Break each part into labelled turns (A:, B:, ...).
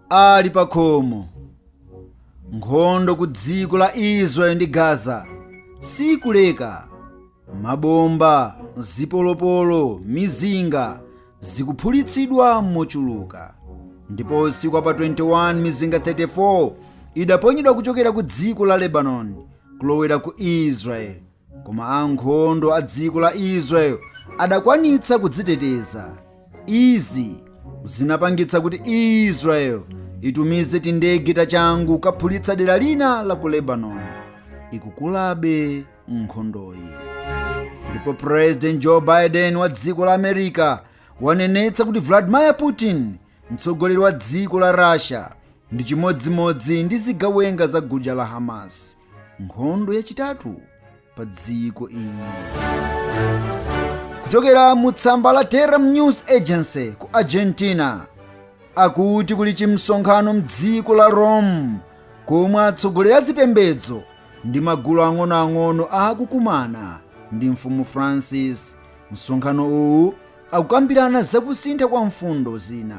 A: ali pa khomo nkhondo ku dziko la israeli ndi gaza sikuleka mabomba zipolopolo mizinga zikuphulitsidwa mochuluka ndipo usiku wa pa 21 mizinga 34 idaponyedwa kuchokera ku dziko la lebanoni kulowera ku israeli koma ankhondo a dziko la israel adakwanitsa kudziteteza izi zinapangitsa kuti israel itumize tindege tachangu kaphulitsa dera lina la ku lebanon ikukulabe nkhondoyi ndipo president joe biden wa dziko la america wanenetsa kuti vladimir putin Mtsogoleri wa dziko la Russia ndi chimodzimodzi ndi zigawenga za gulu la Hamas. Nkhondo yachitatu pa dziko iyi. Kuchokera mu tsamba la Telam News Agency ku Argentina akuti kuli chimsonkhano mdziko la Rome komwe atsogoleri a zipembedzo ndi magulu ang'onoang'ono akukumana ndi mfumu Francis. Msonkhano uwu akukambirana za kusintha kwa mfundo zina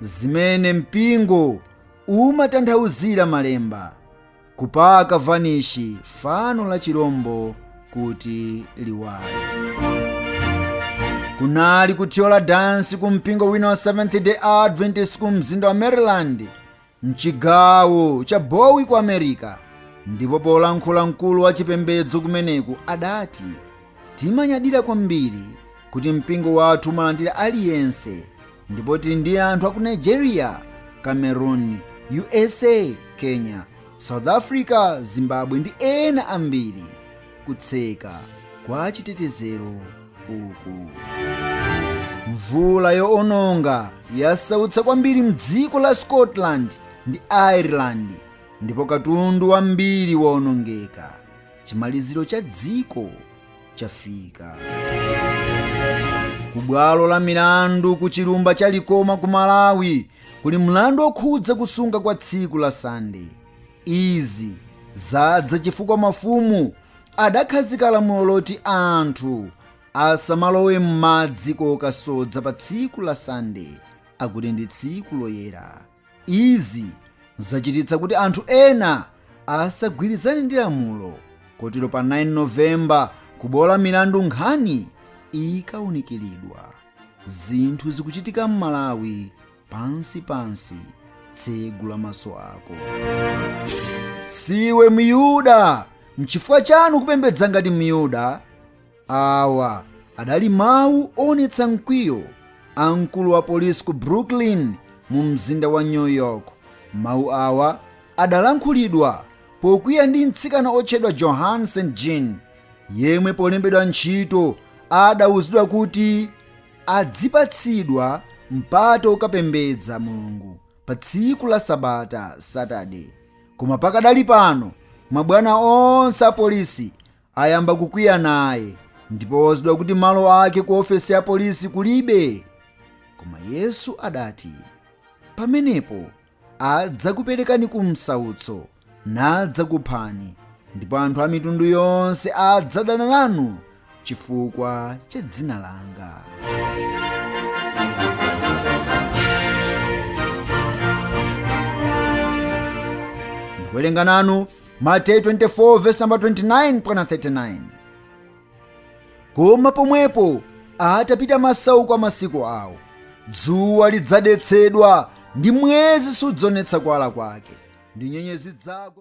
A: zimene mpingo umatanthauzira malemba kupaka vanishi fano la chilombo kuti liwale kunali kuthyola dansi ku mpingo wina wa seventh day adventist ku mzinda wa maryland mchigawo cha bowie ku america ndipo polankhula mkulu wa chipembedzo kumeneku adati timanyadira kwambiri kuti mpingo wathu umalandira aliyense ndipo tili ndi anthu aku nigeria cameroon usa kenya south africa zimbabwe ndi ena ambiri kutseka kwa chitetezero uku mvula yoononga yasautsa kwambiri mdziko la scotland ndi ireland ndipo katundu wambiri waonongeka chimaliziro cha dziko chafika ku bwalo la milandu ku chilumba cha likoma ku malawi kuli mlandu okhudza kusunga kwa tsiku la sande Izi zadza chifukwa mafumu adakhazika lamulo loti anthu asamalowe m'madzi kokasodza pa tsiku la Sande akuti ndi tsiku loyera. Izi zachititsa kuti anthu ena asagwirizane ndi lamulo kotero pa 9 November kubwalo la milandu nkhani ikawunikiridwa. Zinthu zikuchitika m'Malawi pansi pansi tsegula maso ako siwe myuda mchifukwa chani kupembedza ngati myuda awa adali mawu onetsa mkwiyo a mkulu wa polisi ku brooklyn mu mzinda wa new york mawu awa adalankhulidwa pokwiya ndi mtsikana otchedwa johan st jean yemwe polembedwa ntchito adauzidwa kuti adzipatsidwa mpata wokapembedza mulungu pa tsiku la sabata saturday koma pakadali pano mabwana onse apolisi ayamba kukwiya naye ndipo wauzidwa kuti malo ake ku ofesi ya polisi kulibe koma yesu adati pamenepo adzakuperekani ku msautso nadzakuphani ndipo anthu a mitundu yonse adzadana nanu chifukwa cha dzina langa ndikuwerenga nanu mateyu 24 vesi namba 29 mpaka 39 koma pomwepo atapita masauko a masiku awo dzuwa lidzadetsedwa ndi mwezi sudzaonetsa kuwala kwake ndi nyenyezi zidzagwa